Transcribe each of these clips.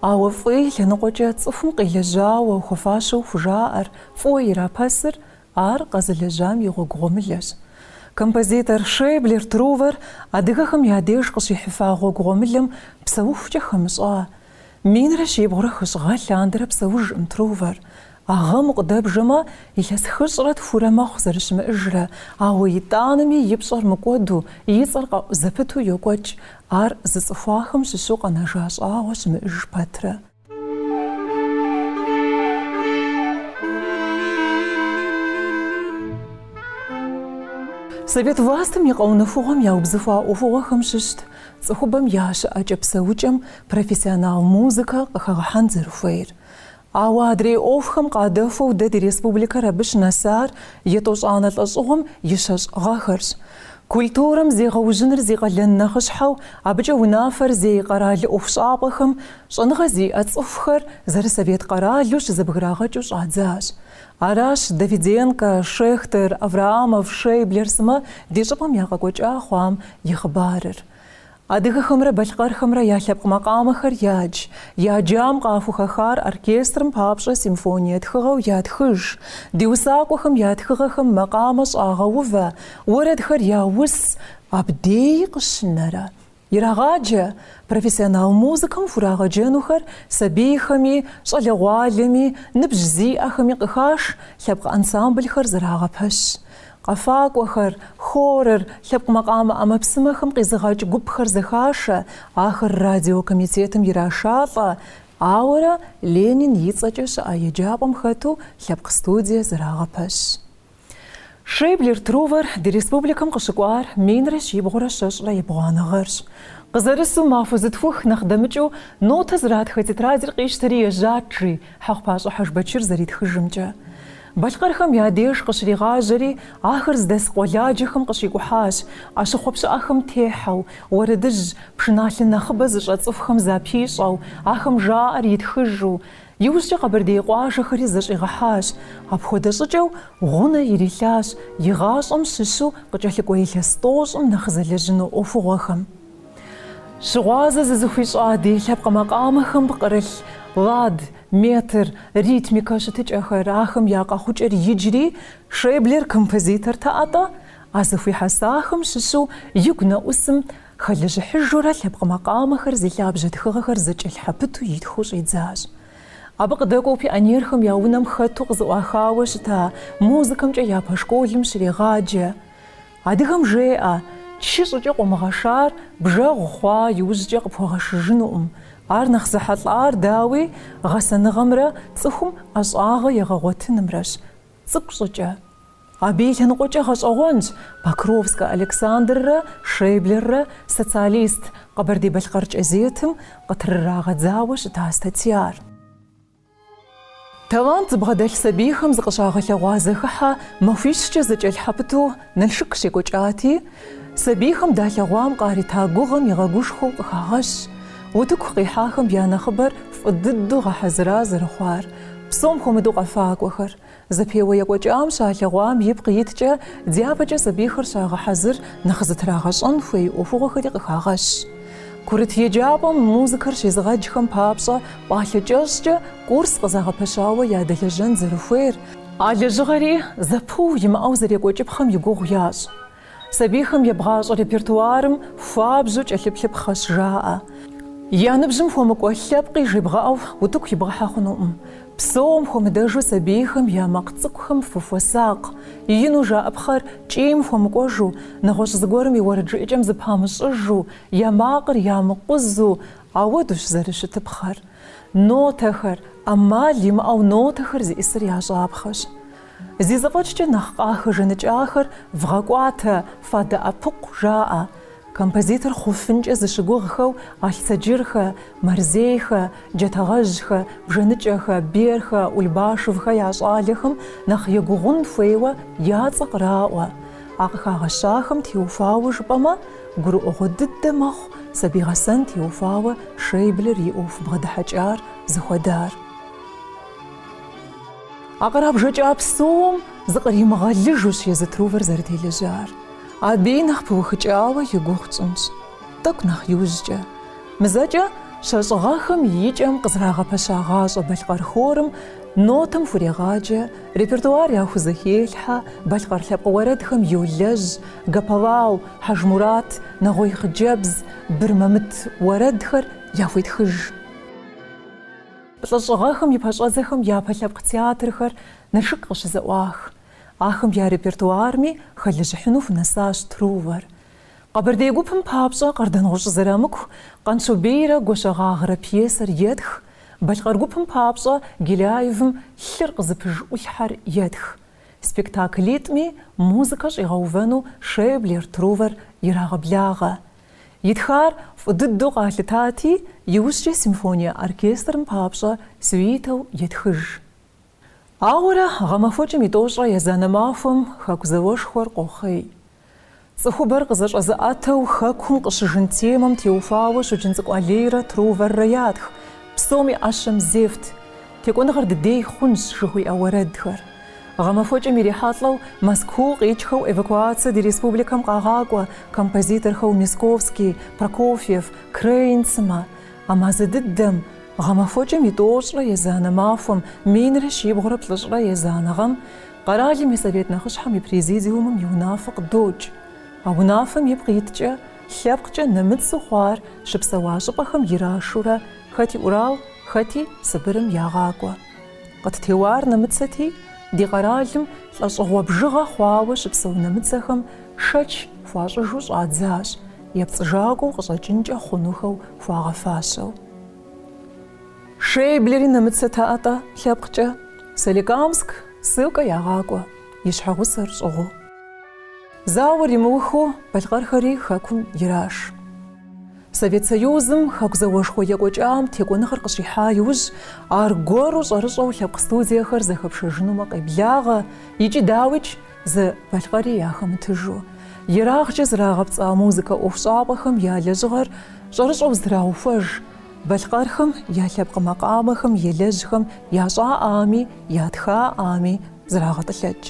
Ауэ фӏы и лъэныкъуэкӏэ цӏыхум къилэжьауэ хуэфащэу хужаӏэр фӏыуэ ирапэсыр ар къэзылэжьам и гъуэгу гъуэмылэщ. Композитор Шейблер Трувэр адыгэхэм я деж къыщихьыфа гъуэгу гъуэмылэм псэухукӏэ хэмыщӏа. Минрэ щибгъурэ хыщӏ гъэ лъандэрэ псэужкъым Трувэр, А гъэм къыдэбжэмэ, илъэс хыщӏрэ тхурэ мэхъу зэрыщымыӏыжрэ, ауэ итӏанэми и пщӏэр мыкӏуэду, и цӏэр къэӏу зэпыту йокӏуэкӏ, ар зыцӏыхуахэм щыщу къэнэжа щӏагъуэ щымыӏыж пэтрэ. Совет властым и къэунэхугъуэм яубзыхуа ӏуэхугъуэхэм щыщт цӏыхубэм я щыӏэкӏэ-псэукӏэм профессионал музыкэ къыхэгъэхьэн зэрыхуейр. Ауэ адрей ӏуэхухэм къадэхуэу дэ ди республикэр абы щынэсар етӏощӏанэ лӏэщӏыгъуэм и щэщӏ гъэхэрщ. Культурэм зегъэужьыныр зи къалэн нэхъыщхьэу абыкӏэ унафэр зей къэрал ӏуэхущӏапӏэхэм щӏэныгъэ зиӏэ цӏыхухэр зэрысовет къэралу щызэбграгъэкӏыу щӏадзащ. Аращ Давиденкэ, Шехтер, Авраамов, Шейблер сымэ ди щӏыпӏэм я къэкӏуэкӏа хъуам и хъыбарыр. Адыгэхэмрэ балъкъэрхэмрэ я лъэпкъ макъамэхэр ядж. Я джам къахухэхар оркестрым папщӏэ симфоние тхыгъэу ятхыж. Ди усакӏуэхэм я тхыгъэхэм макъамэ щӏагъэувэ, уэрэдхэр яус, абдей къыщынэрэ. Ирагъаджэ, профессионал музыкэм хурагъэджэнухэр сабийхэми, щӏалэгъуалэми, ныбжь зиӏэхэми къыхаш лъэпкъ ансамблхэр зэрагъэпэщ. Къэфакӏуэхэр, хорыр, лъэпкъ макъамэ ӏэмэпсымэхэм къизыгъэкӏ гупхэр зэхашэ, ахэр радио комитетым ирашалӏэ, ауэрэ Ленин и цӏэкӏэ щыӏэ еджапӏэм хэту лъэпкъ студие зэрагъэпэщ. Шейблер Трувэр ди республикэм къыщыкӏуар минрэ щибгъурэ щэщӏрэ ебгъуанэ гъэрщ. Къызэрысу махуэ зытхух нэхъ дэмыкӏыу нотэ зратхэ тетрадыр къищтэри ежьат, жи Хьэхъупащӏэ Хьэжбэчыр зэритхыжымкӏэ. Балъкъэрхэм я деж къыщригъажьэри, ахэр здэс къуэладжэхэм къыщикӏухьащ, ӏэщыхъуэ пщыӏэхэм техьэу, уэрэдыжь, пшыналъэ нэхъыбэ зыщӏэ цӏыхухэм запищӏэу, ахэм жаӏэр итхыжу. Иужькӏэ къэбэрдей къуажэхэри зэщӏигъэхьащ. Апхуэдэ щӏыкӏэу гъунэ ирилъащ и гъащӏэм щыщу къыкӏэлъыкӏуэ илъэс тӏощӏым нэхъ зэлэжьыну ӏуэхугъуэхэм. Щыгъуазэ зызыхуищӏа ди лъэпкъ макъамэхэм пкърылъ, лад, метр, ритмикэ щытыкӏэхэр, ахэм я къэхъукӏэр иджри Шейблер композитортэ-атӏэ, а зэхуихьэсахэм щыщу игу нэӏусым хэлэжьыхьыжурэ лъэпкъ макъамэхэр зи лъабжьэ тхыгъэхэр зэкӏэлъхьэпыту итхыу щӏидзащ. Абы къыдэкӏуэу пионерхэм я унэм хэту къызэӏуахауэ щыта музыкэмкӏэ япэ школым щрегъаджэ. Адыгэм жеӏэ, Чы щӏыкӏэ къумыгъэшар бжэгъу хъуа иужькӏэ къыпхуэгъэшыжынукъым. Ар нэхъ зэхьэлӏар, дауи, гъэсэныгъэмрэ цӏыхум ӏэщӏагъэ егъэгъуэтынымрэщ. Цӏыкӏу щӏыкӏэ. Абы и лъэныкъуэкӏэ гъэщӏэгъуэнщ Покровскэ Александррэ Шейблеррэ Социалист Къэбэрдей-Балъкъэр кӏэзетым къытрырагъэдзауэ щыта статьяр. Талант зыбгъэдэлъ сабийхэм зыкъыщагъэлъэгъуа зэхыхьэ махуищкӏэ зэкӏэлъхьэпыту Налшык щекӏуэкӏати, сабийхэм далъэгъуам къарита гугъэм игъэгушхуэу къыхагъэщ утыку къихьахэм я нэхъыбэр фӏы дыдэу гъэхьэзыра зэрыхъуар, псом хуэмыдэу къэфакӏуэхэр, Зэпеуэ екӏуэкӏам щалъэгъуам ипкъ иткӏэ, дяпэкӏэ сабийхэр щагъэхьэзыр, нэхъ зытрагъэщӏэн хуей ӏуэхугъуэхэри къыхагъэщ. Курыт еджапӏэм музыкэр щезыгъэджхэм папщӏэ пӏалъэ кӏэщӏкӏэ курс къызагъэпэщауэ ядэлэжьэн зэрыхуейр, а лэжьыгъэри зэпыу имыӏэу зэрекӏуэкӏыпхъэм и гугъу ящӏ. Сабийхэм ебгъащӏэ репертуарым хуабжьу кӏэлъыплъыпхъэщ жаӏэ. Я ныбжьым хуэмыкӏуэ лъэпкъи жебгъэӏэу утыку ибгъэхьэ хъунукъым. Псом хуэмыдэжу сабийхэм я макъ цӏыкӏухэм фыхуэсакъ. Ину жаӏэпхъэр кӏийм хуэмыкӏуэжу, нэгъуэщӏ зыгуэрым и уэрэджыӏэкӏэм зыпамыщӏыжу, я макъыр ямыкъузу, ауэдущ зэрыщытыпхъэр. Нотэхэр, ӏэмал имыӏэу нотэхэр зиӏысыр ящӏапхъэщ. Зи зэфӏэкӏкӏэ нэхъ къахэжаныкӏахэр вгъэкӏуатэ, фадэӏэпыкъу, жаӏэ. Композитор хъуфынкӏэ зыщыгугъхэу Алъцэджырхэ, Мэрзейхэ, Джатэгъэжьхэ, Бжэныкӏэхэ, Берхэ, Ульбашевхэ я щӏалэхэм нэхъ егугъун хуейуэ я цӏэ къраӏуэ. А къыхагъэщахэм теухуауэ жыпӏэмэ, гурыӏуэгъуэ дыдэ мэхъу сабий гъэсэн теухуауэ Шейблер и ӏуэху бгъэдыхьэкӏар зыхуэдар. А кърабжэкӏа псом зыкъримыгъэлыжущ езы Трувэр зэрытелэжьар. Абыи нэхъ пыухыкӏауэ и гугъу тщӏынщ. Тӏэкӏу нэхъ иужькӏэ. Мызэкӏэ щэщӏ гъэхэм и кӏэм къызэрагъэпэщагъащӏэ балъкъэр хорым нотэм хурегъаджэ, репертуар яхузэхелъхьэ, балъкъэр лъэпкъ уэрэдхэм йолэжь, Гапалау, Хьэжмурат, Нэгъуей хъыджэбз, Бырмэмыт уэрэдхэр яхуетхыж. Плӏыщӏ гъэхэм и пэщӏэдзэхэм япэ лъэпкъ театрхэр Налшык къыщызэӏуах. Ахэм я репертуарми хэлэжьыхьыну хунэсащ Трувэр. Къэбэрдей гупым папщӏэ Къардэнгъущӏ Зэрамыку Къанщобейрэ Гуащэгъагърэ пьесэр етх, Балъкъэр гупым папщӏэ Геляевым Лъыр къызыпыж ӏулъхьэр етх. Спектаклитӏми музыкэ щӏигъэувэну Шейблер Трувэр ирагъэблагъэ. Итхар фӏы дыдэу къалъытати, иужькӏэ симфоние оркестрым папщӏэ сюитэу етхыж. Ауэрэ гъэмахуэкӏэм и тӏощӏрэ езанэ махуэм Хэку зауэшхуэр къохъей. Цӏыхубэр къызэщӏэзыӏэтэу Хэкум къыщыжын темэм теухуауэ Щоджэнцӏыкӏу Алийрэ Труворрэ ятх, псоми ӏэщэм зефт. Текӏуэныгъэр дыдей хъунщ жыхуиӏэ уэрэдхэр гъэмахуэкӏэм ирихьэлӏэу Мэзкуу къикӏхэу эвакуацэ ди республикэм къагъакӏуэ композиторхэу Мясковский, Прокофьев, Крейн сымэ. А мазэ дыдэм гъэмахуэкӏэм и тӏощӏрэ езанэ махуэм минрэ щибгъурэ плӏыщӏрэ езанэ гъэм къэралым и Совет нэхъыщхьэм и Президиумым и унафэ къыдокӏ. А унафэм ипкъ иткӏэ лъэпкъкӏэ нэмыцу хъуар щыпсэуа щӏыпӏэхэм ирашурэ Хэти Урал, хэти Сыбырым ягъакӏуэ. Къыттеуар нэмыцэти, ди къэралым лӏэщӏыгъуэ бжыгъэ хъуауэ щыпсэу нэмыцэхэм шэч хуащӏыжу щӏадзащ, епцӏыжакӏуэу къыщӏэкӏынкӏэ хъунухэу хуагъэфащэу. Шейблери нэмыцэт атӏэ лъэпкъкӏэ, Соликамск, ссылкэ ягъакӏуэ, и щхьэгъусэр щӏыгъуу. Зауэр имыухыу балъкъэрхэри хэкум ираш. Совет Союзым Хэку зауэшхуэ екӏуэкӏам текӏуэныгъэр къыщихьа иужь, аргуэру щӏэрыщӏэу лъэпкъ студиехэр зэхэпшэжынумэ къеблагъэ икӏи, дауикӏ, зы балъкъэри яхэмытыжу. Ерагъкӏэ зрагъэпцӏа музыкэ ӏуэхущӏапӏэхэм я лэжьыгъэр щӏэрыщӏэу зэтраухуэж, балъкъэрхэм я лъэпкъ макъамэхэм елэжьхэм ящӏаӏами ятхаӏами зрагъэтӏылъэкӏ.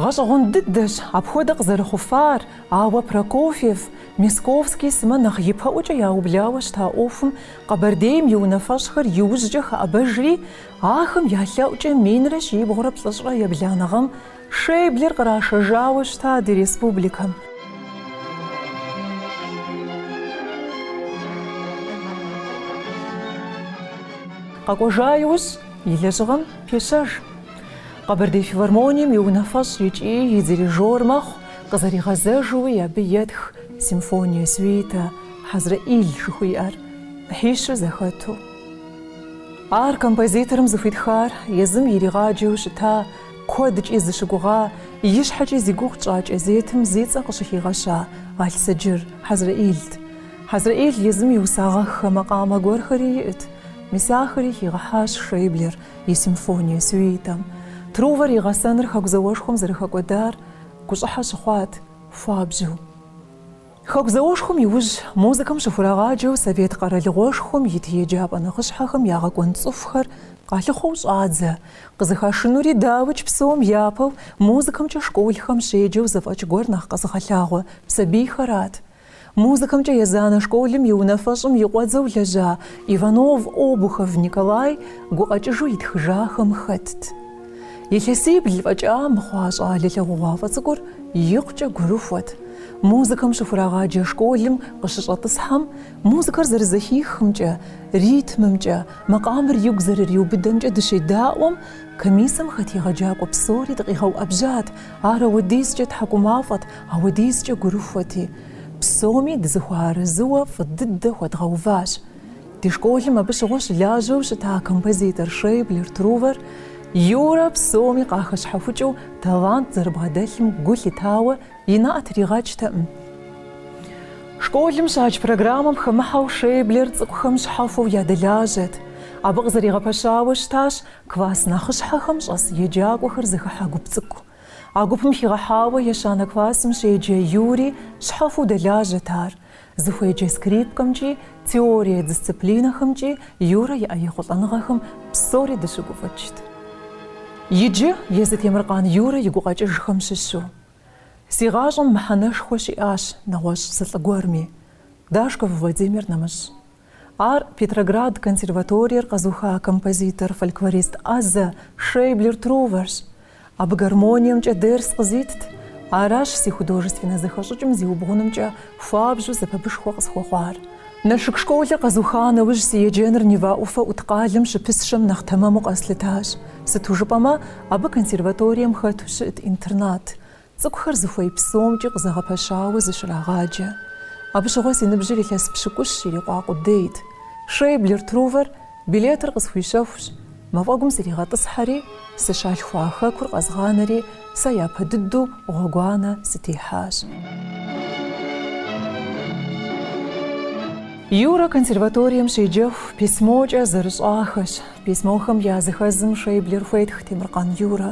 Гъэщӏэгъуэн дыдэщ апхуэдэ къызэрыхъуфар, ауэ Прокофьев, Мясковский сымэ нэхъ ипэӏуэкӏэ яублауэ щыта ӏуэхум Къэбэрдейм и унафэщӏхэр иужькӏэ хэӏэбэжри, ахэм я лъэӏукӏэ минрэ щибгъурэ плӏыщӏрэ ебланэ гъэм Шейблер кърашэжауэ щыта ди республикэм. Къэкӏуэжа иужь и лэжьыгъэм пещэж. Къэбэрдей филармонием и унафэщӏ икӏи и дирижёр мэхъу, къызэригъэзэжууи абы етх симфония, сюита, Хьэзрэӏил жыхуиӏэр, ӏыхьищу зэхэту. Ар композиторым зыхуитхар езым иригъаджэу щыта, куэдкӏи зыщыгугъа, ищхьэкӏи зи гугъу тщӏа кӏэзетым зи цӏэ къыщыхигъэща Алъсэджыр Хьэзрэӏилт. Хьэзрэӏил езым иусагъэххэ макъамэ гуэрхэри иӏэт, мис ахэри хигъэхьащ Шейблер, и симфоние, сюитэм, Трувэр и гъэсэныр Хэку зауэшхуэм зэрыхэкӏуэдар гущӏыхьэ щыхъуат, хуабжьу. Хэку зауэшхуэм иужь, музыкэм щыхурагъаджэу Совет Къэралыгъуэшхуэм ит еджапӏэ нэхъыщхьэхэм я гъэкӏуэн цӏыхухэр къалъыхъуэу щӏадзэ, къызыхашынури дауи, псом япэу музыкэмкӏэ школхэм щеджэу зэфӏэкӏ гуэр нэхъ къэзыгъэлъагъуэ сабийхэрат, Музыкэмкӏэ езанэ школым и унафэщӏым и къуэдзэу лэжьа Иванов Обухов Николай гукъэкӏыжу итхыжахэм хэтт. Илъэсибл фӏэкӏа мыхъуа щӏалэ лъагъугъуафӏэ цӏыкӏур икъукӏэ гурыхуэт. Музыкэм щыхурагъаджэ школым къыщыщӏэтӏысхьэм, музыкэр зэрызэхихымкӏэ, ритмымкӏэ, макъамэр игу зэрыриубыдэмкӏэ дыщедаӏуэм, комиссэм хэт егъэджакӏуэ псори дыкъигъэуӏэбжьат, Ар ауэдизкӏэ тхьэкӏумафӏэт, ауэдизкӏэ гурыхуэти, псоми дызыхуэарэзыуэ фӏы дыдэ хуэдгъэуващ. Ди школым абы щыгъуэ щылажьэу щыта композитор Шейблер Трувэр Юрэ псоми къахэщхьэхукӏыу талант зэрыбгъэдэлъым гу лъитауэ и нэӏэ тригъэкӏтэкъым. Школым щадж программэм хэмыхьэу Шейблер цӏыкӏухэм щхьэхуэу ядэлажьэт. Абы къызэригъэпэщауэ щытащ Класс нэхъыщхьэхэм щӏэс еджакӏуэхэр зыхыхьэ гуп цӏыкӏу. А гупым хигъэхьауэ ещанэ классым щеджэ Юрий щхьэхуэу дэлажьэт ар. Зыхуеджэ скрипкэмкӏи, теорие дисциплинэхэмкӏи Юрэ иӏэ ехъулӏэныгъэхэм псори дыщыгуфӏыкӏт. Иджы езы Темыркъан Юрэ и гукъэкӏыжхэм щыщу. Си гъащӏэм мыхьэнэшхуэ щиӏащ нэгъуэщӏ зы лӏы гуэрми, Дашков Владимир нэмыщӏ, Ар Петроград консерваториер къэзыуха композитор, фольклорист ӏэзэ Шейблер Труверщ. Абы гармониемкӏэ дерс къызитт. Аращ си художественнэ зэхэщӏыкӏым зиубгъунымкӏэ хуабжьу сэбэпышхуэ къысхуэхъуар. Налшык школыр къэзуха нэужь си еджэныр Нева ӏуфэ ӏут къалэм щыпысщэм нэхъ тэмэму къэслъытащ. Сыту жыпӏэмэ, абы консерваторием хэту щыӏэт интернат. Цӏыкӏухэр зыхуей псомкӏи къызэгъэпэщауэ зыщрагъаджэ. Абы щыгъуэ си ныбжьыр илъэс пщыкӏущ ирикъуа къудейт. Шейблер Трувэр билетыр къысхуищэхущ, мафӏэгум сригъэтӏысхьэри, сыщалъхуа хэкур къэзгъанэри, сэ япэ дыдэу гъуэгуанэ сытехьащ. Юрэ консерваторием щеджэху письмокӏэ зэрыщӏахэщ. Письмохэм я зыхэзым Шейблер хуетх Темыркъан Юрэ.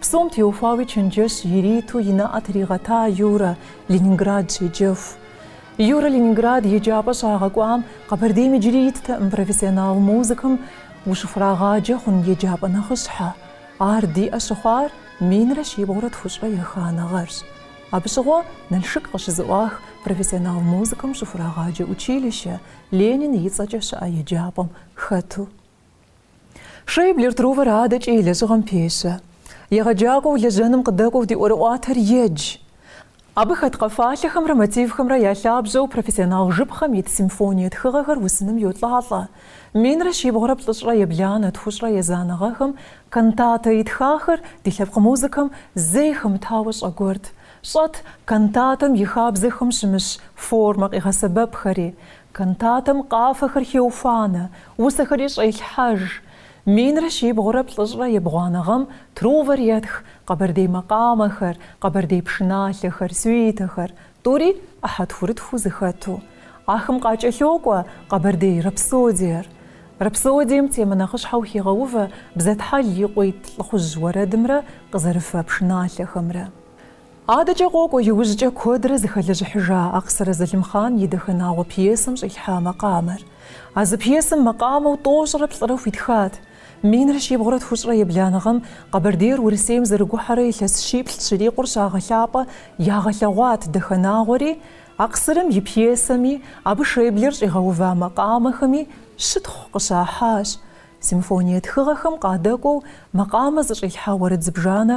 Псом теухуауи чэнджэщ ириту и нэӏэ тригъэта Юрэ Ленинград щеджэху. Юрэ Ленинград еджапӏэ щагъэкӏуам Къэбэрдейм иджыри иттэкъым профессионал музыкэм ущыхурагъаджэ хъун еджапӏэ нэхъыщхьэ. Ар диӏэ щыхъуар минрэ щибгъурэ тхущӏрэ еханэгъэрщ. Абы щыгъуэ Налшык къыщызэӏуах профессионал музыкэм щыхурагъаджэ училище, Ленин и цӏэкӏэ щыӏэ еджапӏэм хэту. Шейблер Трувор адэкӏэ и лэжьыгъэм пещэ. Егъэджакӏуэу лэжьэным къыдэкӏуэу ди ӏуэрыӏуатэр едж. Абы хэт къэфалъэхэмрэ мотивхэмрэ я лъабжьэу профессионал жыпхъэм ит симфоние тхыгъэхэр усыным йолӏалӏэ. Минрэ щибгъурэ плӏыщӏрэ ебланэ тхущӏрэ езанэ гъэхэм кантатэ итхахэр ди лъэпкъ музыкэм зэи хэмытауэ щӏэгуэрт. Щӏэт кантатэм и хабзэхэм щымыщ формэ къигъэсэбэпхэри. Кантатэм къафэхэр хеуфанэ, усэхэри щӏелъхьэж. Минрэ щибгъурэ плӏыщӏрэ ебгъуанэ гъэм Трувор етх къэбэрдей макъамэхэр, къэбэрдей пшыналъэхэр, сюитэхэр, тӏури ӏыхьэ тхурытхуу зэхэту. Ахэм къакӏэлъокӏуэ къэбэрдей рапсодиер. Рапсодием темэ нэхъыщхьэу хегъэувэ Бзэтхьэл и къуитӏ лӏыхъужь уэрэдымрэ къызэрыфэ пшыналъэхэмрэ. Адэкӏэ къокӏуэ иужькӏэ куэдрэ зыхэлэжьыхьыжа Акъсырэ Залымхъан и Дахэнагъуэ пьесэм щӏилъхьа макъамэр. А зы пьесэм макъамэу тӏощӏрэ плӏырэ хуитхат. Минрэ щибгъурэ тхущӏрэ ебланэ гъэм Къэбэрдейр Урысейм зэрыгухьэрэ илъэс щиплӏ щырикъур щагъэлъапӏэ ягъэлъэгъуат Дахэнагъуэри, Акъсырэм и пьесэми, абы Шейблер щӏигъэува макъамэхэми щытхъу къыщахьащ. Симфоние тхыгъэхэм къадэкӏуэу макъамэ зыщӏилъхьа уэрэд зыбжанэ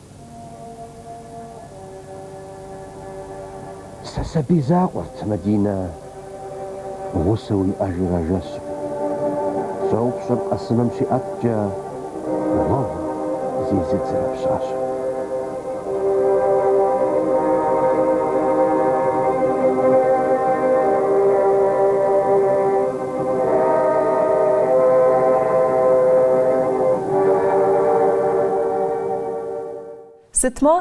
Сэ сабий закъуэрт, Мадинэ гъусэу иӏэжыр а жэщым. Щӏопщыр къэсыным щиӏэткӏэ, гъуэгу зезыдзэрэ пщащэ. Сытмэ,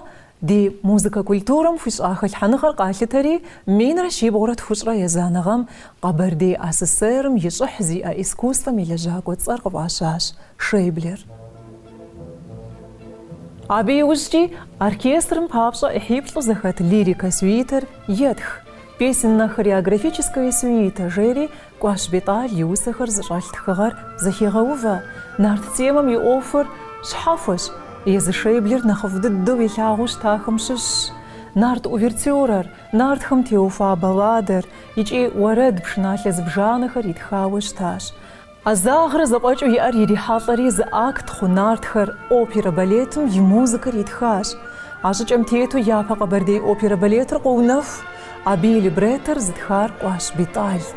ди музыкэ культурэм хуищӏа хэлъхьэныгъэр къалъытэри, минрэ щибгъурэ тхущӏрэ езанэ гъэм Къэбэрдей АССР-м и щӏыхь зиӏэ искусствэм и лэжьакӏуэ цӏэр къыфӏащащ Шейблер. Абы иужькӏи оркестрым папщӏэ ӏыхьиплӏу зэхэт лирикэ сюитэр етх, Песенно-хореографическая сюита жери Кӏуащ Бетӏал и усэхэр зыщӏэлъ тхыгъэр зэхегъэувэ, нарт темэм и ӏуэхур щхьэхуэщ, езы Шейблер нэхъыфӏ дыдэу илъагъуу щытахэм щыщщ нарт увертюрэр, нартхэм теухуа балладэр икӏи уэрэд пшыналъэ зыбжанэхэр итхауэ щытащ. Ӏэзагърэ зэфӏэкӏыу иӏэр ирихьэлӏэри зы акт хъу нартхэр оперэ-балетым и музыкэр итхащ. А щӏыкӏэм тету япэ Къэбэрдей оперэ-балетыр къоунэху, Абы и либреттор зытхар Кӏуащ Битӏалт.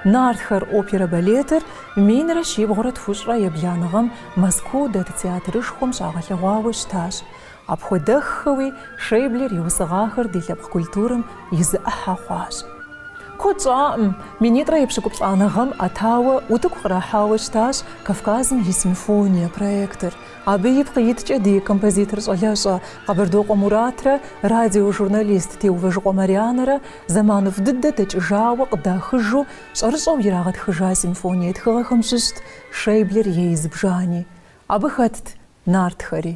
Нартхэр опера-балетыр минрэ щибгъурэ тхущӏрэ ебланэ гъэм Мэзкуу дэт театрышхуэм щагъэлъэгъуауэ щытащ. Апхуэдэххэуи, Шейблер иусыгъахэр ди лъэпкъ культурэм и зы ӏыхьэ хъуащ. Куэд щӏакъым, минитӏрэ епщыкӏуплӏанэ гъэм ӏэтауэ утыку кърахьауэ щытащ Кавказым и симфония проектыр. Абы ипкъ иткӏэ ди композитор щӏалэщӏэ Къэбардокъуэ Муратрэ радиожурналист Теувэжыкъуэ Марианэрэ зэманыфӏ дыдэ дэкӏыжауэ къыдахыжу щӏэрыщӏэу ирагъэтхыжа симфоние тхыгъэхэм щыщт Шейблер ей зыбжани. Абы хэтт нартхэри.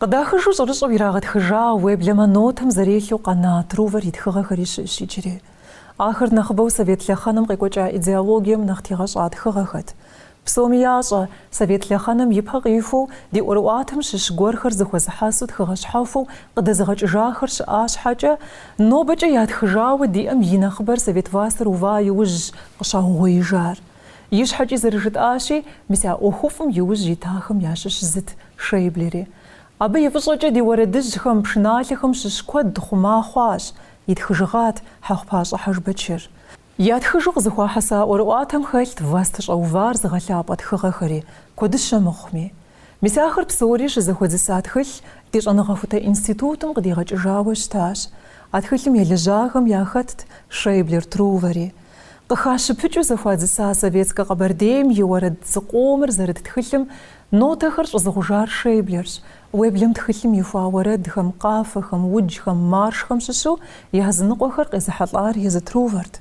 Къыдахыжу щӏэрыщӏэу ирагъэтхыжа, уеблэмэ нотам зэрелъу къэна Трувэр и тхыгъэхэри щыӏэщ иджыри. Ахэр нэхъыбэу совет лъэхъэнэм къекӏуэкӏа идеологием нэхъ тегъэщӏа тхыгъэхэт. Псоми ящӏэ, совет лъэхъэнэм и пэ къихуэу, ди ӏуэрыӏуатэм щыщ гуэрхэр зыхуэзыхьэсу тхыгъэ щхьэхуэу къыдэзыгъэкӏыжахэр щыӏа щхьэкӏэ, нобэкӏэ ятхыжауэ диӏэм и нэхъыбэр совет властыр ува иужьщ къыщаугъуеижар. Ищхьэкӏи зэрыжытӏащи, мис а ӏуэхуфӏым и ужь итахэм ящыщ зыт Шейблери. Абы и фӏыщӏэкӏэ ди уэрэдыжьхэм, пшыналъэхэм щыщ куэд хъума хъуащ, итхыжыгъат Хьэхъупащӏэ Хьэжбэчыр. Ятхыжу къызыхуахьэса ӏуэрыӏуатэм хэлът властыщӏэ увар зыгъэлъапӏэ тхыгъэхэри, куэдыщэ мыхъуми. Мис ахэр псори щызэхуэдзыса тхылъ ди щӏэныгъэхутэ институтым къыдигъэкӏыжауэ щытащ. А тхылъым елэжьахэм яхэтт Шейблер Трувэри. Къыхащыпыкӏыу зэхуадзыса Советскэ Къэбэрдейм и уэрэд зыкъомыр зэрыт тхылъым нотэхэр щӏызыгъужар Шейблерщ, уеблэм тхылъым ихуа уэрэдхэм, къафэхэм, уджхэм, маршхэм щыщу языныкъуэхэр къезыхьэлӏар езы Трувэрт.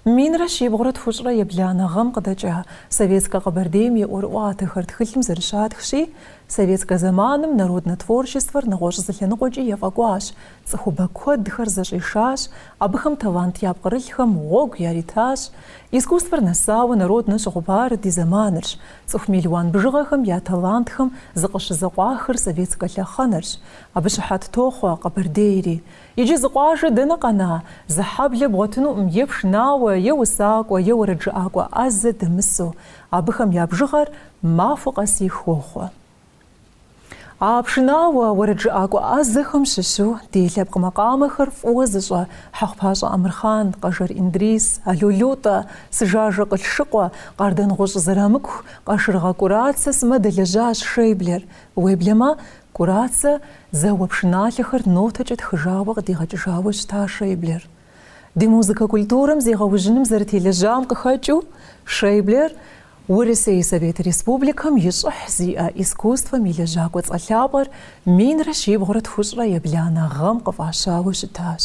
Минрэ щибгъурэ тхущӏрэ ебланэ гъэм къыдэкӏа Советскэ Къэбэрдейм и ӏуэрыӏуатэхэр тхылъым зэрыщатхщи, советскэ зэманым народнэ творчествэр нэгъуэщӏ зы лъэныкъуэкӏи ефӏэкӏуащ, цӏыхубэ куэдхэр зэщӏишащ, абыхэм талант япкърылъхэм гъуэгу яритащ. Искусствэр нэсауэ народнэ щыхъупар ди зэманырщ, цӏыху мелуан бжыгъэхэм я талантхэм зыкъыщызэкъуахыр советскэ лъэхъэнэрщ. Абы щыхьэт тохъуэ Къэбэрдейри. Иджы зы къуажэ дэнэ къэна, зы хьэблэ бгъуэтынуӏым е пшынауэ, е усакӏуэ, е уэрэджыӏакӏуэ ӏэзэ дэмысу, абыхэм я бжыгъэр махуэ къэсыху хохъуэ. А пшынауэ, уэрэджыӏакӏуэ ӏэзэхэм щыщу ди лъэпкъ макъамэхэр фӏыуэ зыщӏэ Хьэхъупащӏэ Амырхъан, Къэжэр Индрис, Ало Лутӏэ, Сыжажэ Къылъшыкъуэ, Къардэнгъущӏ Зэрамыку, Къашыргъэ Кӏурацэ сымэ дэлэжьащ Шейблер, уеблэмэ, Кӏурацэ зэуэ пшыналъэхэр нотэкӏэ тхыжауэ къыдигъэкӏыжауэ щыта Шейблер. Ди музыкэ культурэм зегъэужьыным зэрытелэжьам къыхэкӏыу, Шейблер Урысей Совет Республикэм и щӏыхь зиӏэ искусствэм и лэжьакӏуэ цӏэ лъапӏэр минрэ щибгъурэ тхущӏрэ ебланэ гъэм къыфӏащауэ щытащ.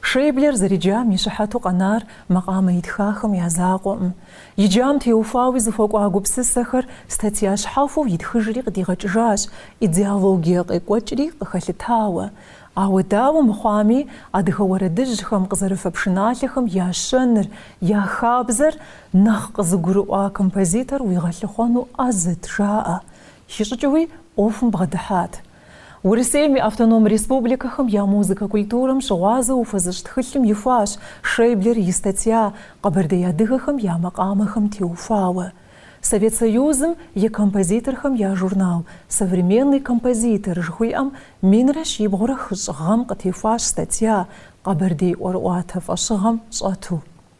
Шейблер зэриджам и щыхьэту къэнар макъамэ итхахэм я закъуэӏым. Иджам теухуауи зыхуэкӏуа гупсысэхэр статья щхьэхуэу итхыжри къыдигъэкӏыжащ, идеологие къекӏуэкӏри къыхэлъытауэ. Ауэ дауэ мыхъуами, адыгэ уэрэдыжьхэм къызэрыфэ пшыналъэхэм я щэныр, я хабзэр нэхъ къызыгурыӏуа композитор уигъэлъыхъуэну ӏэзэт, жаӏэ. Хищӏыкӏыуи ӏуэхум бгъэдыхьат. Урысейм и автоном республикэхэм я музыкэ культурэм щыгъуазэу ухуэзыщӏ тхылъым ихуащ Шейблер и статья Къэбэрдей адыгэхэм я макъамэхэм теухуауэ. Совет Союзым и композиторхэм я журнал Современный композитор жыхуиӏэм минрэ щибгъурэ хыщӏ гъэм къытехуащ статья Къэбэрдей ӏуэрыӏуатэ фӏэщыгъэм щӏэту.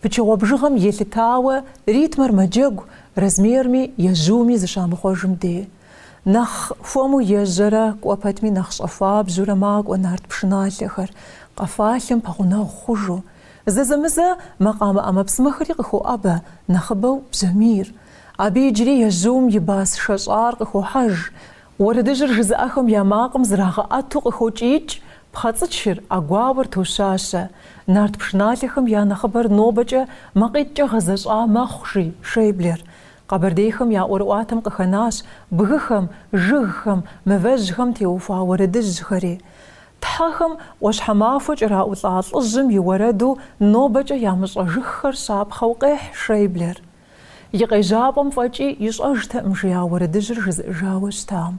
Пычыгъуэ бжыгъэм елъытауэ ритмыр мэджэгу, размерми, ежьуми зыщамыхъуэжым де. Нэхъ хуэму ежьэрэ, кӏуэ пэтми нэхъ щӏэхуабжьурэ макӏуэ нарт пшыналъэхэр, къэфалъэм пэгъунэгъу хъужу. Зэзэмызэ макъамэ ӏэмэпсымэхэри къыхоӏэбэ, нэхъыбэу бжьамийр. Абы иджыри ежьум и бас шэщӏар къыхохьэж. Уэрэдыжьыр жызыӏэхэм я макъым зрагъэӏэту къыхокӏиикӏ пхъэцӏычыр, ӏэгуауэр тощащэ. Нарт пшыналъэхэм я нэхъыбэр нобэкӏэ макъитӏкӏэ гъэзэщӏа мэхъу, жи Шейблер. Къэбэрдейхэм я ӏуэрыӏуатэм къыхэнащ бгыхэм, жыгхэм, мывэжьхэм теухуа уэрэдыжьхэри. Тхьэхэм ӏуащхьэмахуэ кӏэраӏулӏа лӏыжьым и уэрэду нобэкӏэ ямыщӏэжыххэр щапхъэу къехь Шейблер. И къежьапӏэм фӏэкӏи ищӏэжтэӏым жиӏа уэрэдыжьыр жызыӏыжауэ щытам.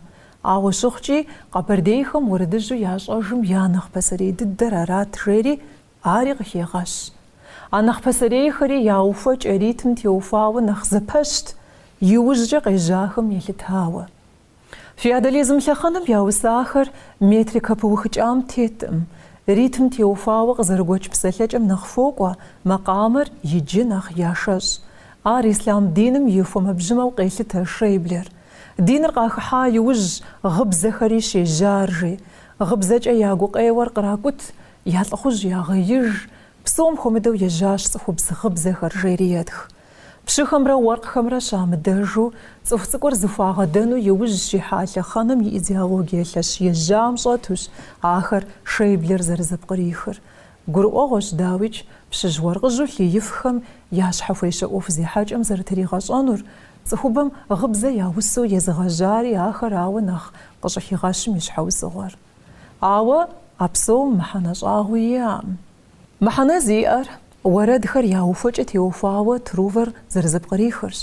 Ауэ щыхъукӏи, къэбэрдейхэм уэрэдыжьу ящӏэжым я нэхъ пасэрей дыдэр арат жери, ари къыхегъэщ. А нэхъ пасэрейхэри я ухуэкӏэ ритм теухуауэ нэхъ зэпэщт, иужькӏэ къежьахэм елъытауэ. Феодализм лъэхъэнэм я усахэр метрикэ пыухыкӏам тетӏым, ритм теухуауэ къызэрыгуэкӏ псэлъэкӏэм нэхъ хуокӏуэ, макъамэр иджы нэхъ яшэщӏ. Ар ислам диным и фэмэбжьымэу къелъытэ Шейблер. Диныр къахыхьа иужь гъыбзэхэри щежьар, жи. Гъыбзэкӏэ я гукъеуэр къракӏут, я лӏыхъужь ягъеиж, псом хуэмыдэу ежьащ цӏыхубз гъыбзэхэр, жери етх. Пщыхэмрэ уэркъхэмрэ щамыдэжу, цӏыху цӏыкӏур зыхуагъэдэну и ужь щихьа лъэхъэнэм и идеологие лъэщ ежьам щӏэтущ ахэр Шейблер зэрызэпкърихыр. Гурыӏуэгъуэщ, дауикӏ, пщыжь-уэркъыжьу лъыифхэм я щхьэхуещэ ӏуэху зехьэкӏэм зэрытригъэщӏэнур, цӏыхубэм гъыбзэ яусэу езыгъэжьари ахэр ауэ нэхъ къыщӏыхигъэщым и щхьэусыгъуэр. Ауэ а псом мыхьэнэ щӏагъуи иӏэкъым. Мыхьэнэ зиӏэр уэрэдхэр я ухуэкӏэ теухуауэ Трувор зэрызэпкърихырщ.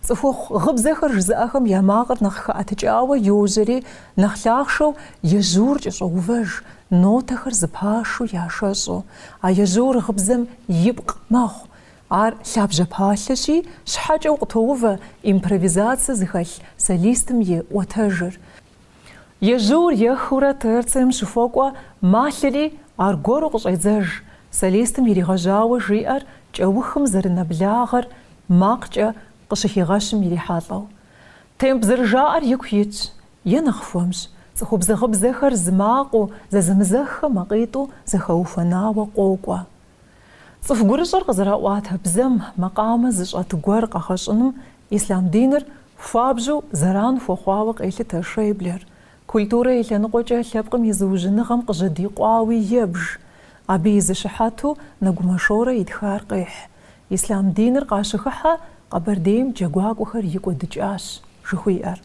Цӏыхухъу гъыбзэхэр жызыӏэхэм я макъыр нэхъ хэӏэтыкӏауэ йожьэри, нэхъ лъахъшэу ежьур кӏэщӏоувэж, нотэхэр зыпашу яшэщӏу. А ежьур гъыбзэм ипкъ мэхъу. Ар лъабжьэ палъэщи, щхьэкӏэу къытоувэ импровизацэ зыхэлъ солистым и ӏуэтэжыр. Ежьур ехыурэ терцием щыхуэкӏуэ малъэри аргуэру къыщӏедзэж, солистым иригъэжьауэ жиӏэр кӏэухым зэрынэблагъэр макъкӏэ къыщыхигъэщым ирихьэлӏэу. Темп зэрыжаӏэр ику итщ, е нэхъ хуэмщ, цӏыхубз гъыбзэхэр зы макъыу, зэзэмызэххэ макъитӏу зэхэухуэнауэ къокӏуэ. Цӏыху гурыщӏэр къызэраӏуатэ бзэм макъамэ зыщӏэт гуэр къэгъэщӏыным ислъам диныр хуабжьу зэран хуэхъуауэ къелъытэ Шейблер, культурэ и лъэныкъуэкӏэ лъэпкъым и зыужьыныгъэм къыжьэдикъуауи ебж, абы и зы щыхьэту Нэгумэ Шорэ итхар къехь, ислъам диныр къащыхыхьэ Къэбэрдейм джэгуакӏуэхэр икӏуэдыкӏащ, жыхуиӏэр.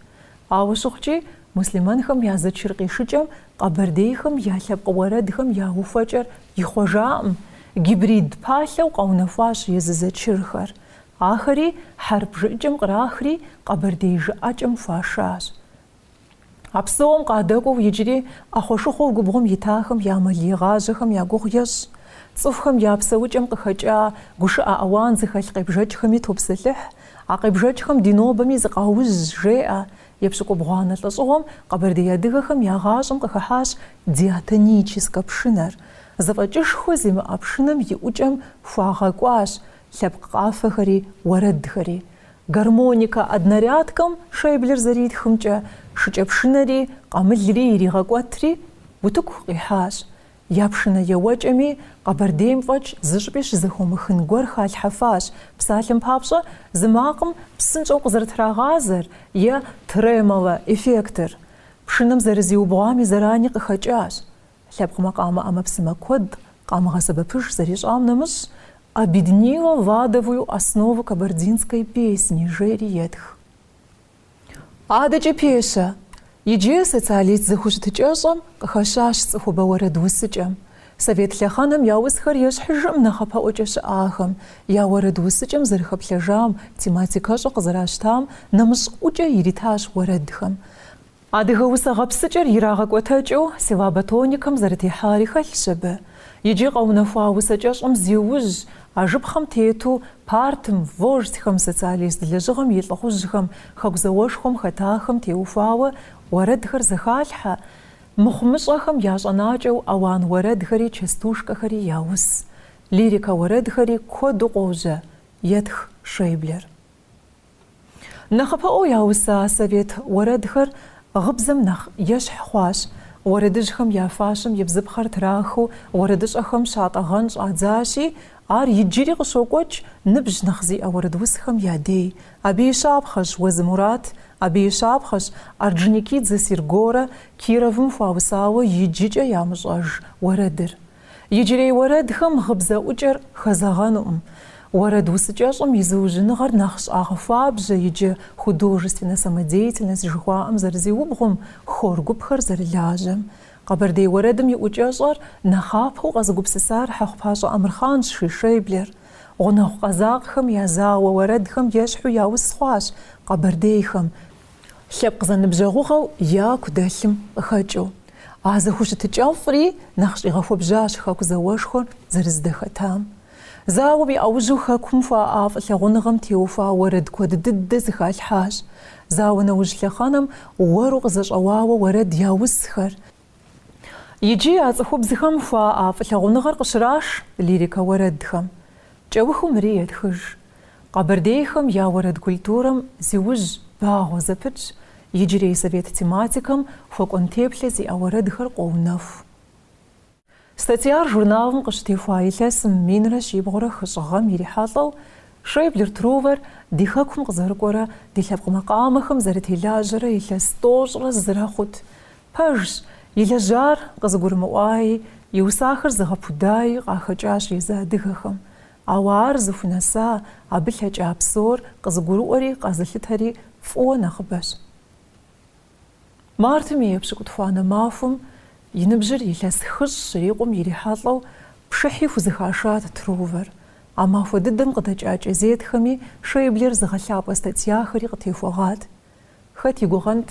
Ауэ щыхъукӏи, муслъымэнхэм я зэчыр къишыкӏэм къэбэрдейхэм я лъэпкъ уэрэдхэм я ухуэкӏэр ихъуэжакъым, гибрид палъэу къэунэхуащ езы зэчырхэр. Ахэри хьэрып жыӏэкӏэм кърахри, къэбэрдей жыӏэкӏэм хуашащ. А псом къадэкӏуэу иджыри ӏэхъуэ-шыхъуэу губгъуэм итахэм я мэлегъажьэхэм я гугъу ещӏ. Цӏыхухэм я псэукӏэм къыхэкӏа гушыӏэ-ауан зыхэлъ къебжэкӏхэми топсэлъыхь, А къебжэкӏхэм ди нобэми зыкъаужь, жеӏэ. Епщыкӏубгъуанэ лӏэщӏыгъуэм къэбэрдей адыгэхэм я гъащӏэм къыхыхьащ диатоническэ пшынэр. Зэфӏэкӏышхуэ зимыӏэ пшынэм и ӏукӏэм хуагъэкӏуащ лъэпкъ къафэхэри уэрэдхэри. Гармоникэ однорядкэм Шейблер зэритхымкӏэ, шыкӏэпшынэри, къамылри иригъэкӏуэтри, утыку къихьащ. Я пшынэ еуэкӏэми, Къэбэрдейм фӏэкӏ зыщӏыпӏи щызэхыумыхын гуэр халъхьэфащ, псалъэм папщӏэ, зы макъым псынщӏэу къызэрытрагъазэр е тремоло эффектыр. Пшынэм зэрызиубгъуами зэрани къыхэкӏащ. Лъэпкъ макъамэ ӏэмэпсымэ куэд къамыгъэсэбэпыж зэрищӏам нэмыщӏ, Обеднила ладовую основу кабардинской песни жери етх. Адэкӏэ пещэ, иджы социалист зэхущытыкӏэщӏэм къыхэщащ цӏыхубэ уэрэд усыкӏэм. Совет лъэхъэнэм яусхэр ещхьыжым нэхъапэӏуэкӏэ щыӏахэм, я уэрэд усыкӏэм зэрыхэплъэжам, тематикэщӏэ къызэращтам нэмыщӏ ӏукӏэ иритащ уэрэдхэм. Адыгэ усэ гъэпсыкӏэр ирагъэкӏуэтэкӏыу силаба тоникэм зэрытехьари хэлъщ абы. Иджы къэунэхуа усэкӏэщӏым зиужь, а жыпхъэм тету, партым, вождьхэм, социалист лэжьыгъэм и лӏыхъужьхэм, Хэку зауэшхуэм хэтахэм теухуауэ уэрэдхэр зэхалъхьэ, мыхъумыщӏэхэм я щӏэнакӏэу ауан уэрэдхэри частушкэхэри яус, лирикэ уэрэдхэри куэду къожьэ, етх Шейблер. Нэхъыпэӏуэу яуса совет уэрэдхэр гъыбзэм нэхъ ещхь хъуащ. Уэрэдыжьхэм я фащэм и бзыпхъэр трахыу уэрэдыщӏэхэм щатӏэгъэн щӏадзащи, ар иджыри къыщокӏуэкӏ ныбжь нэхъ зиӏэ уэрэдусхэм я дей. Абы и щапхъэщ Уэзы Мурат, абы и щапхъэщ Орджоникидзе Сергорэ Кировым хуаусауэ иджыкӏэ ямыщӏэж уэрэдыр. Иджырей уэрэдхэм гъыбзэ ӏукӏэр хэзэгъэнукъым. Уэрэд усыкӏэщӏым и зыужьыныгъэр нэхъ щӏагъэхуабжьэ иджы художественнэ самодеятельность жыхуаӏэм зэрызиубгъум, хор гупхэр зэрылажьэм. Къэбэрдей уэрэдым и ӏукӏэщӏэр нэхъапэу къэзыгупсысар Хьэхъупащӏэ Амырхъанщ, жи Шейблер. Гъунэгъу къэзакъхэм я зауэ уэрэдхэм ещхьу яус хъуащ къэбэрдейхэм. Лъэпкъ зэныбжьэгъугъэу яку дэлъым къыхэкӏыу, а зэхущытыкӏэфӏри нэхъ щӏигъэхуэбжьащ Хэку зауэшхуэр зэрыздэхэтам. Зауэм и ӏэужьу Хэкум хуаӏа фӏылъагъуныгъэм теухуа уэрэд куэд дыдэ зыхалъхьащ. Зауэ нэужь лъэхъэнэм уэру къызэщӏэуауэ уэрэд яусхэр, Иджы а цӏыхубзхэм хуаӏэ фӏылъагъуныгъэр къыщраш лирикэ уэрэдхэм. Кӏэухыу мыри етхыж. Къэбэрдейхэм я уэрэд культурэм зиужь багъуэ зэпытщ, иджырей совет тематикэм хуэкӏуэн теплъэ зиӏэ уэрэдхэр къоунэху. Статьяр журналым къыщытехуа илъэсым минрэ щибгъурэ хыщӏ гъэм ирихьэлӏэу, Шейблер Трувор ди Хэкум къызэрыкӏуэрэ ди лъэпкъ макъамэхэм зэрытелажьэрэ илъэс тӏощӏрэ зырэ хъут. Пэжщ, и лэжьар къызыгурымыӏуаи, и усахэр зыгъэпудаи къахэкӏащ езы адыгэхэм. Ауэ ар зыхунэса, абы лъэкӏа псор къызыгурыӏуэри къазылъытэри фӏыуэ нэхъыбэщ. Мартым и епщыкӏутхуанэ махуэм и ныбжьыр илъэс хыщӏ щрикъум ирихьэлӏэу пшыхьи хузыхашат Трувор. А махуэ дыдэм къыдэкӏа кӏэзетхэми Шейблер зыгъэлъапӏэ статьяхэри къытехуэгъат. Хэт и гугъэнт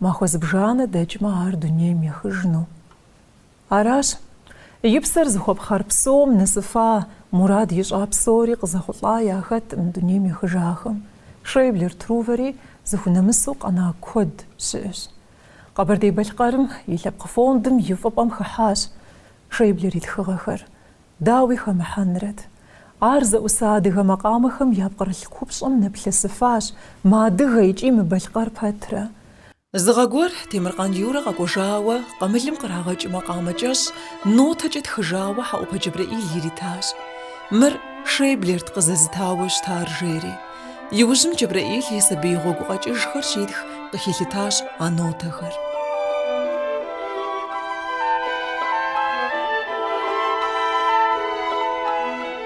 махуэ зыбжанэ дэкӏмэ ар дунейм ехыжыну. Аращ и псэр зыхуэпхъэр псом нэсыфа, мурад ищӏа псори къызэхъулӏа яхэткъым дунейм ехыжахэм. Шейблер Трувэри зыхунэмысу къэна куэд щыӏэщ. Къэбэрдей-Балъкъэрым и лъэпкъ фондым и фӏыпӏэм хыхьащ Шейблер и тхыгъэхэр, дауи хэмыхьэнрэт. Ар зэӏуса адыгэ макъамэхэм я пкърылъ купщӏэм нэплъысыфащ, мыадыгэ икӏи мыбалъкъэр пэтрэ. Зы гъэ гуэр Темыркъан Юрэ къэкӏуэжауэ къамылым кърагъэкӏ макъамэ кӏэщӏ нотэкӏэ тхыжауэ Хьэӏупэ Джэбрэӏил иритащ. Мыр Шейблерт къызэзытауэ щытар, жери. Иужьым Джэбрэӏил и сабий гъуэгу къэкӏыжхэр щитх къыхилъытащ а нотэхэр.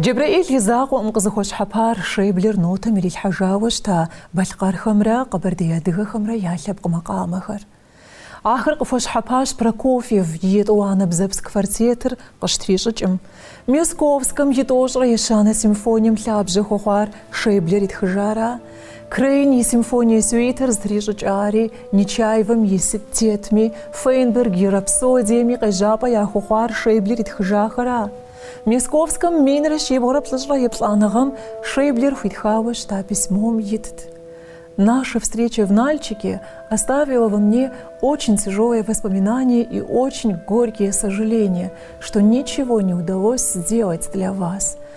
Джэбрэӏил и закъуэкъым къызыхуэщхьэпар Шейблер нотэм ирилъхьэжауэ щыта балъкъэрхэмрэ къэбэрдей адыгэхэмрэ я лъэпкъ макъамэхэр. Ахэр къыхуэщхьэпащ Прокофьев и Етӏуанэ бзэпс квартетыр къыщтрищӏыкӏым. Мясковскэм и тӏощӏрэ ещанэ симфонием лъабжьэ хуэхъуар Шейблер итхыжаращ. Крейн и симфоние сюитэр зытрищӏыкӏари, Нечаевым и Сыт тетми, Фейнберг и Рапсодиеми къежьапӏэ яхуэхъуар Шейблер итхыжахэр а? Мисковскэм минрэ щибгъурэ плӏыщӏрэ еплӏаныгъэм Шейблер хуитхауэ щыта письмом итт. Наша встреча в Нальчике оставила во мне очень тяжелые воспоминания и очень горькие сожаления, что ничего не удалось сделать для вас.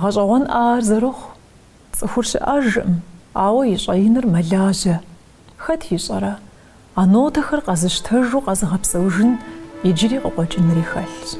Гъэщӏэгъуэнщ ар зэрыхъу цӏыхур щыӏэжкъым, ауэ и щӏэиныр мэлажьэ. Хэт ищӏэрэ, а нотэхэр къэзыщтэжу къэзыгъэпсэужын иджыри къыкъуэкӏынри хэлъщ.